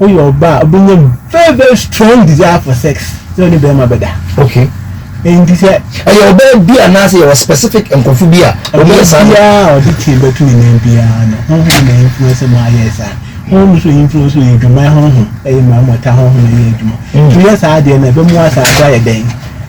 Woyɛ ɔbaa a wobɛnya very very strong desire for sex sɛ wone bɛrima bɛda. Okay. Nti sɛ. Ɛyɛ ɔbaa bi anaasɛ yɛwɔ specific nkurɔfo bi a wɔyɛ saa. Ɔbaa biara a ɔde tie bɛto ne nan biara no honhom na influence ma ayɛ saa. Honhom nso influence yɛ adwuma honhom ɛyɛ ma mɔta honhom ɛyɛ adwuma. Mm. Nti yɛ saa adeɛ no ɛbɛmu asaa do ayɛ dɛn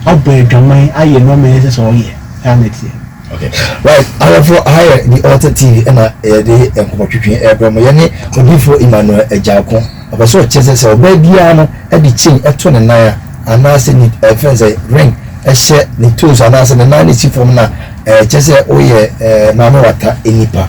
abɔ adwaman ayɛ nneɛma ɛsɛ sɛ ɔyɛ saa na ɛteɛ. Okay right ahwɛfoɔ aha yɛ the altar tv ɛna yɛde nkɔmɔtwetwe ɛbrɛ mo yɛne odiifoɔ Emmanuel Agyarko ɔpɛ sɛ ɔkyerɛ sɛ sɛ ɔbaa biara no ɛde chain ɛto ne nan a anaasɛ ne ɛfɛn sɛ ring ɛhyɛ ne toes anaasɛ ne nan no si fam no a ɛkyɛ sɛ woyɛ ɛɛ maame wata nipa